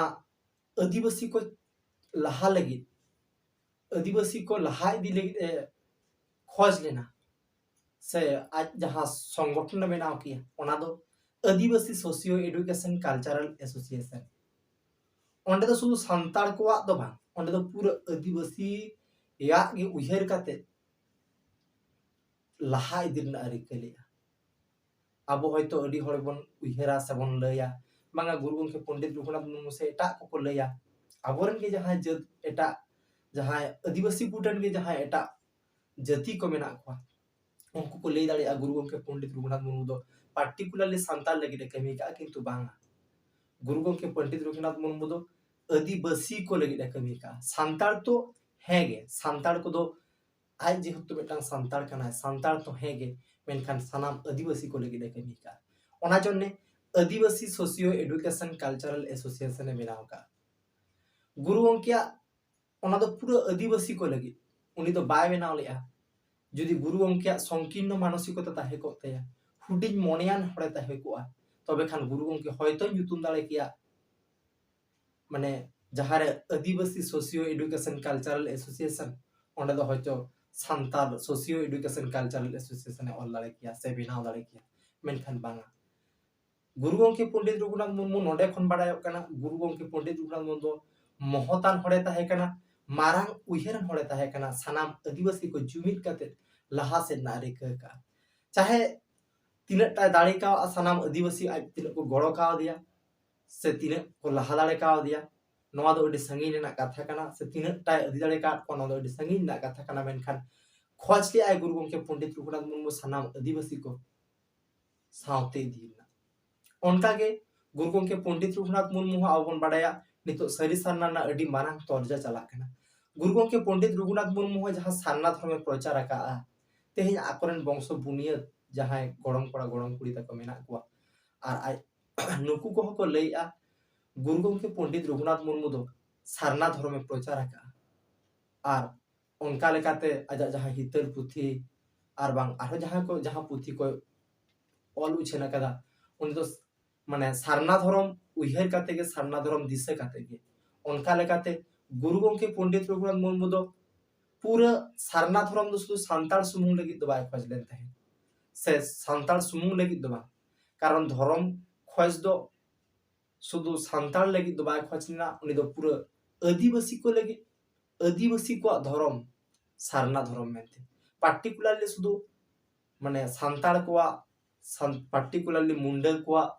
[SPEAKER 1] ᱟᱹᱫᱤᱵᱟᱹᱥᱤ ᱠᱚ ᱞᱟᱦᱟ ᱞᱟᱹᱜᱤᱫ ᱟᱹᱫᱤᱵᱟᱹᱥᱤ ᱠᱚ ᱞᱟᱦᱟ ᱤᱫᱤ ᱞᱟᱹᱜᱤᱫ ᱮ ᱠᱷᱚᱡᱽ ᱞᱮᱱᱟ ᱥᱮ ᱟᱡ ᱡᱟᱦᱟᱸ ᱥᱚᱝᱜᱚᱴᱷᱚᱱ ᱮ ᱵᱮᱱᱟᱣ ᱠᱮᱜᱼᱟ ᱚᱱᱟ ᱫᱚ Adivasi socio education cultural association ᱚᱸᱰᱮ ᱫᱚ ᱥᱩᱫᱷᱩ ᱥᱟᱱᱛᱟᱲ ᱠᱚᱣᱟᱜ ᱫᱚ ᱵᱟᱝ ᱚᱸᱰᱮ ᱫᱚ ᱯᱩᱨᱟᱹ ᱟᱹᱫᱤᱵᱟᱹᱥᱤ ᱭᱟᱜ ᱜᱮ ᱩᱭᱦᱟᱹᱨ ᱠᱟᱛᱮ ᱞᱟᱦᱟ ᱤᱫᱤ ᱨᱮᱱᱟᱜ ᱮ ᱨᱤᱠᱟᱹ ᱞᱮᱫᱼᱟ ᱟᱵᱚ ᱦᱚᱭᱛᱳ ᱟᱹᱰᱤ ᱦᱚᱲ ᱵᱚᱱ ᱩᱭᱦᱟᱹᱨᱟ ᱥᱮᱵᱚᱱ ᱞᱟᱹᱭᱟ ᱵᱟᱝᱟ ᱜᱩᱨᱩ ᱜᱚᱢᱠᱮ ᱯᱚᱱᱰᱤᱛ ᱨᱚᱜᱷᱩᱱᱟᱛᱷ ᱢᱩᱨᱢᱩ ᱥᱮ ᱮᱴᱟᱜ ᱠᱚᱠᱚ ᱞᱟᱹᱭᱟ ᱟᱵᱚᱨᱮᱱ ᱜᱮ ᱡᱟᱦᱟᱸᱭ ᱡᱟᱹᱛ ᱮᱴᱟᱜ ᱡᱟᱦᱟᱸᱭ ᱟᱹᱫᱤᱵᱟᱹᱥᱤ ᱠᱚᱴᱷᱮᱱ ᱜᱮ ᱡᱟᱦᱟᱸᱭ ᱮᱴᱟᱜ ᱡᱟᱹᱛᱤ ᱠᱚ ᱢᱮᱱᱟᱜ ᱠᱚᱣᱟ ᱩᱱᱠᱩ ᱠᱚ ᱞᱟᱹᱭ ᱫᱟᱲᱮᱭᱟᱜᱼᱟ ᱜᱩᱨᱩ ᱜᱚᱢᱠᱮ ᱯᱚᱱᱰᱤᱛ ᱨᱚᱜᱷᱩᱱᱟᱛᱷ ᱢᱩᱨᱢᱩ ᱫᱚ ᱯᱟᱨᱴᱤᱠᱩᱞᱟᱨᱞᱤ ᱥᱟᱱᱛᱟᱲ ᱞᱟᱹᱜᱤᱫ ᱮ ᱠᱟᱹᱢᱤ ᱠᱟᱜᱼᱟ ᱠᱤᱱᱛᱩ ᱵᱟᱝᱟ ᱜᱩᱨᱩ ᱜᱚᱢᱠᱮ ᱯᱚᱱᱰᱤᱛ ᱨᱚᱜᱷᱩᱱᱟᱛᱷ ᱢᱩᱨᱢᱩ ᱫᱚ ᱟᱹᱫᱤᱵᱟᱹᱥᱤ ᱠᱚ ᱞᱟᱹᱜᱤᱫ ᱮ ᱠᱟᱹᱢᱤ ᱠᱟᱜᱼᱟ ᱥᱟᱱᱛᱟᱲ ᱛᱚ ᱦᱮᱸᱜᱮ ᱥᱟᱱᱛᱟᱲ ᱠᱚᱫᱚ ᱟᱡ ᱡᱮᱦᱮᱛᱩ ᱢᱤᱫᱴᱟᱝ ᱥᱟᱱᱛᱟᱲ ᱠᱟᱱᱟᱭ ᱥᱟᱱᱛᱟᱲ ᱛᱚ ᱦᱮᱸᱜᱮ ᱢᱮᱱᱠᱷᱟᱱ ᱥᱟᱱᱟᱢ ᱟᱹᱫᱤᱵᱟᱹᱥᱤ ᱠᱚ ᱞᱟᱹᱜᱤᱫ ᱮ ᱠᱟᱹᱢᱤ ᱠᱟᱜᱼᱟ ᱚᱱᱟ ᱡᱚᱱᱱᱮ Adivasi socio education cultural association ᱮ ᱵᱮᱱᱟᱣ ᱠᱟᱜᱼᱟ ᱜᱩᱨᱩ ᱜᱚᱢᱠᱮᱭᱟᱜ ᱚᱱᱟ ᱫᱚ ᱯᱩᱨᱟᱹ ᱟᱹᱫᱤᱵᱟᱹᱥᱤ ᱠᱚ ᱞᱟᱹᱜᱤᱫ ᱩᱱᱤ ᱫᱚ ᱵᱟᱭ ᱵᱮᱱᱟᱣ ᱞᱮᱫᱼᱟ ᱡᱩᱫᱤ ᱜᱩᱨᱩ ᱜᱚᱢᱠᱮᱭᱟᱜ ᱥᱚᱝᱠᱤᱨᱱᱚ ᱢᱟᱱᱚᱥᱤᱠᱚᱛᱟ ᱛᱟᱦᱮᱸ ᱠᱚᱜ ᱛᱟᱭᱟ ᱦᱩᱰᱤᱧ ᱢᱚᱱᱮᱭᱟᱱ ᱦᱚᱲᱮ ᱛᱟᱦᱮᱸ ᱠᱚᱜᱼᱟ ᱛᱚᱵᱮ ᱠᱷᱟᱱ ᱜᱩᱨᱩ ᱜᱚᱢᱠᱮ ᱦᱚᱭᱛᱚ ᱧᱩᱛᱩᱢ ᱫᱟᱲᱮ ᱠᱮᱭᱟ ᱢᱟᱱᱮ ᱡᱟᱦᱟᱸᱨᱮ Adivasi socio education cultural association ᱚᱸᱰᱮ ᱫᱚ ᱦᱚᱭᱛᱚ ᱥᱟᱱᱛᱟᱲ ᱥᱳᱥᱤᱭᱳ ᱮᱰᱩᱠᱮᱥᱚᱱ ᱠᱟᱞᱪᱟᱨᱟᱞ ᱮᱥᱳᱥᱤᱭᱮᱥᱚᱱᱮ ᱚᱞ ᱫᱟᱲᱮ ᱠᱮᱭᱟ ᱥᱮ ᱵᱮᱱᱟᱣ ᱫᱟᱲᱮ ᱠᱮᱭᱟ ᱢᱮᱱᱠᱷᱟᱱ ᱵᱟᱝᱟ ᱜᱩᱨᱩ ᱜᱚᱢᱠᱮ ᱯᱚᱱᱰᱤᱛ ᱨᱚᱜᱷᱩᱱᱟᱛᱷ ᱢᱩᱨᱢᱩ ᱱᱚᱰᱮ ᱠᱷᱚᱱ ᱵᱟᱰᱟᱭᱚᱜ ᱠᱟᱱᱟ ᱜᱩᱨᱩ ᱜᱚᱢᱠᱮ ᱯᱚᱱᱰᱤᱛ ᱨᱚᱜᱷᱩᱱᱟᱛᱷ ᱢᱩᱨᱢᱩ ᱫᱚ ᱢᱚᱦᱚᱛᱟᱱ ᱦᱚᱲᱮ ᱛᱟᱦᱮᱸ ᱠᱟᱱᱟ ᱢᱟᱨᱟᱝ ᱩᱭᱦᱟᱹᱨ ᱦᱚᱲᱮ ᱛᱟᱦᱮᱸ ᱠᱟᱱᱟ ᱥᱟᱱᱟᱢ ᱟᱹᱫᱤᱵᱟᱹᱥᱤ ᱠᱚ ᱡᱩᱢᱤᱫ ᱠᱟᱛᱮ ᱞᱟᱦᱟ ᱥᱮᱫ ᱨᱮᱱᱟᱜ ᱨᱤᱠᱟᱹ ᱠᱟᱜᱼᱟ ᱪᱟᱦᱮ ᱛᱤᱱᱟᱹᱜ ᱴᱟᱭ ᱫᱟᱲᱮ ᱠᱟᱣᱟᱜᱼᱟ ᱥᱟᱱᱟᱢ ᱟᱹᱫᱤᱵᱟᱹᱥᱤ ᱟᱡ ᱛᱤᱱᱟᱹᱜ ᱠᱚ ᱜᱚᱲᱚ ᱠᱟᱣᱫᱮᱭᱟ ᱥᱮ ᱛᱤᱱᱟᱹᱜ ᱠᱚ ᱞᱟᱦᱟ ᱫᱟᱲᱮ ᱠᱟᱣᱫᱮᱭᱟ ᱱᱚᱣᱟ ᱫᱚ ᱟᱹᱰᱤ ᱥᱟᱺᱜᱤᱧ ᱨᱮᱱᱟᱜ ᱠᱟᱛᱷᱟ ᱠᱟᱱᱟ ᱥᱮ ᱛᱤᱱᱟᱹᱜ ᱴᱟᱭ ᱟᱹᱫᱤ ᱫᱟᱲᱮ ᱠᱟᱜ ᱠᱚᱣᱟ ᱱᱚᱣᱟ ᱫᱚ ᱟᱹᱰᱤ ᱥᱟᱺᱜᱤᱧ ᱨᱮᱱᱟᱜ ᱠᱟᱛᱷᱟ ᱠᱟᱱᱟ ᱢᱮᱱᱠᱷᱟᱱ ᱠᱷᱚᱡᱽ ᱞᱮᱜᱼᱟᱭ ᱜᱩᱨᱩ ᱜᱚᱢᱠᱮ ᱯᱚᱱᱰᱤᱛ ᱨᱚᱜᱷᱩᱱᱟᱛᱷ ᱢᱩᱨᱢᱩ ᱥᱟᱱᱟᱢ ᱟᱹᱫᱤᱵᱟᱹᱥᱤ ᱠᱚ ᱥᱟᱶᱛᱮ ᱤᱫᱤ ᱞᱮᱱᱟ ᱚᱱᱠᱟᱜᱮ ᱜᱩᱨᱩ ᱜᱚᱢᱠᱮ ᱯᱚᱱᱰᱤᱛ ᱨᱚᱜᱷᱩᱱᱟᱛᱷ ᱢᱩᱨᱢᱩ ᱦᱚᱸ ᱟᱵᱚ ᱵᱚᱱ ᱵᱟᱰᱟᱭᱟ ᱱᱤᱛᱚᱜ ᱥᱟᱹᱨᱤ ᱥᱟᱨᱱᱟ ᱨᱮᱱᱟᱜ ᱟᱹᱰᱤ ᱢᱟᱨᱟᱝ ᱛᱚᱨᱡᱟ ᱪᱟᱞᱟᱜ ᱠᱟᱱᱟ ᱜᱩᱨᱩ ᱜᱚᱢᱠᱮ ᱯᱚᱱᱰᱤᱛ ᱨᱚᱜᱷᱩᱱᱟᱛᱷ ᱢᱩᱨᱢᱩ ᱦᱚᱸ ᱡᱟᱦᱟᱸ ᱥᱟᱨᱱᱟ ᱫᱷᱚᱨᱚᱢᱮ ᱯᱨᱚᱪᱟᱨ ᱟᱠᱟᱫᱼᱟ ᱛᱮᱦᱮᱧ ᱟᱠᱚᱨᱮᱱ ᱵᱚᱝᱥᱚ ᱵᱩᱱᱤᱭᱟᱹᱫ ᱡᱟᱦᱟᱸᱭ ᱜᱚᱲᱚᱢ ᱠᱚᱲᱟ ᱜᱚᱲᱚᱢ ᱠᱩᱲᱤ ᱛᱟᱠᱚ ᱢᱮᱱᱟᱜ ᱠᱚᱣᱟ ᱟᱨ ᱟᱡ ᱱᱩᱠᱩ ᱠᱚᱦᱚᱸ ᱠᱚ ᱞᱟᱹᱭᱮᱫᱼᱟ ᱜᱩᱨᱩ ᱜᱚᱢᱠᱮ ᱯᱚᱱᱰᱤᱛ ᱨᱚᱜᱷᱩᱱᱟᱛᱷ ᱢᱩᱨᱢᱩ ᱫᱚ ᱥᱟᱨᱱᱟ ᱫᱷᱚᱨᱚᱢᱮ ᱯᱨᱚᱪᱟᱨ ᱟᱠᱟᱫᱼᱟ ᱟᱨ ᱚᱱᱠᱟ ᱞᱮᱠᱟᱛᱮ ᱟᱡᱟᱜ ᱡᱟᱦᱟᱸ ᱦᱤᱛᱟᱹᱞ ᱯᱩᱛᱷᱤ ᱟᱨ ᱵᱟᱝ ᱟᱨᱦᱚᱸ ᱡᱟᱦᱟᱸ ᱠᱚ ᱡᱟᱦᱟᱸ ᱯᱩᱛᱷᱤ ᱠᱚ ᱚᱞ ᱩᱪᱷᱟᱹᱱ ᱟᱠᱟᱫᱟ ᱩᱱᱤ ᱫᱚ ᱢᱟᱱᱮ ᱥᱟᱨᱱᱟ ᱫᱷᱚᱨᱚᱢ ᱩᱭᱦᱟᱹᱨ ᱠᱟᱛᱮ ᱜᱮ ᱥᱟᱨᱱᱟ ᱫᱷᱚᱨᱚᱢ ᱫᱤᱥᱟᱹ ᱠᱟᱛᱮ ᱜᱮ ᱚᱱᱠᱟ ᱞᱮᱠᱟᱛᱮ ᱜᱩᱨᱩ ᱜᱚᱢᱠᱮ ᱯᱚᱱᱰᱤᱛ ᱨᱚᱜᱷᱩᱱᱟᱛᱷ ᱢᱩᱨᱢᱩ ᱫᱚ ᱯᱩᱨᱟᱹ ᱥᱟᱨᱱᱟ ᱫᱷᱚᱨᱚᱢ ᱫᱚ ᱥᱩᱫᱷᱩ ᱥᱟᱱᱛᱟᱲ ᱥᱩᱢᱩᱝ ᱞᱟᱹᱜᱤᱫ ᱫᱚ ᱵᱟᱭ ᱠᱷᱚᱡᱽ ᱞᱮᱱ ᱛᱟᱦᱮᱸᱫ ᱥᱮ ᱥᱟᱱᱛᱟᱲ ᱥᱩᱢᱩᱝ ᱞᱟᱹᱜᱤᱫ ᱫᱚ ᱵᱟᱝ ᱠᱟᱨᱚᱱ ᱫᱷᱚᱨᱚᱢ ᱠᱷᱚᱡᱽ ᱫᱚ ᱥᱩᱫᱷᱩ ᱥᱟᱱᱛᱟᱲ ᱞᱟᱹᱜᱤᱫ ᱫᱚ ᱵᱟᱭ ᱠᱷᱚᱡᱽ ᱞᱮᱱᱟ ᱩᱱᱤ ᱫᱚ ᱯᱩᱨᱟᱹ ᱟᱹᱫᱤᱵᱟᱹᱥᱤ ᱠᱚ ᱞᱟᱹᱜᱤᱫ ᱟᱹᱫᱤᱵᱟᱹᱥᱤ ᱠᱚᱣᱟᱜ ᱫᱷᱚᱨᱚᱢ ᱥᱟᱨᱱᱟ ᱫᱷᱚᱨᱚᱢ ᱢᱮᱱᱛᱮ ᱯᱟᱨᱴᱤᱠᱩᱞᱟᱨᱞᱤ ᱥᱩᱫᱷᱩ ᱢᱟᱱᱮ ᱥᱟᱱᱛᱟᱲ ᱠᱚᱣᱟᱜ ᱯᱟᱨᱴᱤᱠᱩᱞᱟᱨᱞᱤ ᱢᱩᱱᱰᱟᱹ ᱠᱚᱣᱟᱜ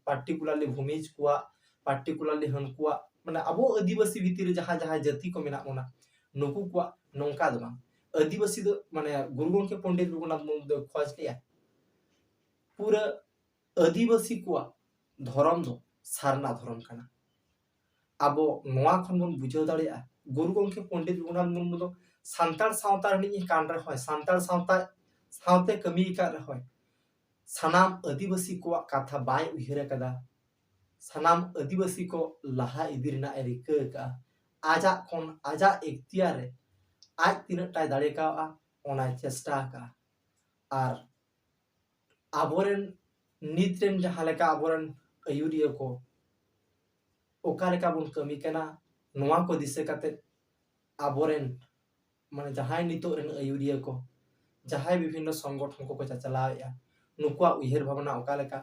[SPEAKER 1] ᱯᱟᱨᱴᱤᱠᱩᱞᱟᱨᱞᱤ ᱵᱷᱩᱢᱤᱡᱽ ᱠᱚᱣᱟᱜ ᱯᱟᱨᱴᱤᱠᱩᱞᱟᱨᱞᱤ ᱦᱟᱹᱱᱠᱩᱣᱟᱜ ᱢᱟᱱᱮ ᱟᱵᱚ ᱟᱹᱫᱤᱵᱟᱹᱥᱤ ᱵᱷᱤᱛᱤᱨ ᱨᱮ ᱡᱟᱦᱟᱸ ᱡᱟᱦᱟᱸ ᱡᱟᱹᱛᱤ ᱠᱚ ᱢᱮᱱᱟᱜ ᱵᱚᱱᱟ ᱱᱩᱠᱩ ᱠᱚᱣᱟᱜ ᱱᱚᱝᱠᱟ ᱫᱚ ᱵᱟᱝ ᱟᱹᱫᱤᱵᱟᱹᱥᱤ ᱫᱚ ᱢᱟᱱᱮ ᱜᱩᱨᱩ ᱜᱚᱢᱠᱮ ᱯᱚᱱᱰᱤᱛ ᱨᱚᱜᱷᱩᱱᱟᱛᱷ ᱢᱩᱨᱢᱩ ᱫᱚ ᱠᱷᱚᱡᱽ ᱞᱮᱜᱼᱟ ᱯᱩᱨᱟᱹ ᱟᱹᱫᱤᱵᱟᱹᱥᱤ ᱠᱚᱣᱟᱜ ᱫᱷᱚᱨᱚᱢ ᱫᱚ ᱥᱟᱨᱱᱟ ᱫᱷᱚᱨᱚᱢ ᱠᱟᱱᱟ ᱟᱵᱚ ᱱᱚᱣᱟ ᱠᱷᱚᱱ ᱵᱚᱱ ᱵᱩᱡᱷᱟᱹᱣ ᱫᱟᱲᱮᱭᱟᱜᱼᱟ ᱜᱩᱨᱩ ᱜᱚᱢᱠᱮ ᱯᱚᱱᱰᱤᱛ ᱨᱚᱜᱷᱩᱱᱟᱛᱷ ᱢᱩᱨᱢᱩ ᱫᱚ ᱥᱟᱱᱛᱟᱲ ᱥᱟᱶᱛᱟ ᱨᱤᱱᱤᱡ ᱠᱟᱱ ᱨᱮᱦᱚᱸᱭ ᱥᱟᱱᱛᱟᱲ ᱥᱟᱶᱛᱟ ᱥᱟᱶᱛᱮ ᱠᱟᱹᱢᱤ ᱟᱠᱟᱫ ᱨᱮᱦᱚᱸᱭ ᱥᱟᱱᱟᱢ ᱟᱹᱫᱤᱵᱟᱹᱥᱤ ᱠᱚᱣᱟᱜ ᱠᱟᱛᱷᱟ ᱵᱟᱭ ᱩᱭᱦᱟᱹᱨ ᱟᱠᱟᱫᱟ ᱥᱟᱱᱟᱢ ᱟᱹᱫᱤᱵᱟᱹᱥᱤ ᱠᱚ ᱞᱟᱦᱟ ᱤᱫᱤ ᱨᱮᱱᱟᱜ ᱮ ᱨᱤᱠᱟᱹ ᱟᱠᱟᱫᱼᱟ ᱟᱡᱟᱜ ᱠᱷᱚᱱ ᱟᱡᱟᱜ ᱮᱠᱛᱤᱭᱟᱨ ᱨᱮ ᱟᱡ ᱛᱤᱱᱟᱹᱜ ᱴᱟᱭ ᱫᱟᱲᱮ ᱠᱟᱣᱜᱼᱟ ᱚᱱᱟᱭ ᱪᱮᱥᱴᱟ ᱟᱠᱟᱫᱼᱟ ᱟᱨ ᱟᱵᱚᱨᱮᱱ ᱱᱤᱛ ᱨᱮᱱ ᱡᱟᱦᱟᱸ ᱞᱮᱠᱟ ᱟᱵᱚᱨᱮᱱ ᱟᱹᱭᱩᱨᱤᱭᱟᱹ ᱠᱚ ᱚᱠᱟ ᱞᱮᱠᱟ ᱵᱚᱱ ᱠᱟᱹᱢᱤ ᱠᱟᱱᱟ ᱱᱚᱣᱟ ᱠᱚ ᱫᱤᱥᱟᱹ ᱠᱟᱛᱮ ᱟᱵᱚᱨᱮᱱ ᱢᱟᱱᱮ ᱡᱟᱦᱟᱸᱭ ᱱᱤᱛᱚᱜ ᱨᱮᱱ ᱟᱹᱭᱩᱨᱤᱭᱟᱹ ᱠᱚ ᱡᱟᱦᱟᱸᱭ ᱵᱤᱵᱷᱤᱱᱱᱚ ᱥᱚᱝᱜᱚᱴᱷᱚᱱ ᱠᱚᱠᱚ ᱪᱟᱪᱞᱟᱣᱮᱫᱼᱟ ᱱᱩᱠᱩᱣᱟᱜ ᱩᱭᱦᱟᱹᱨ ᱵᱷᱟᱵᱽᱱᱟ ᱚᱠᱟ ᱞᱮᱠᱟ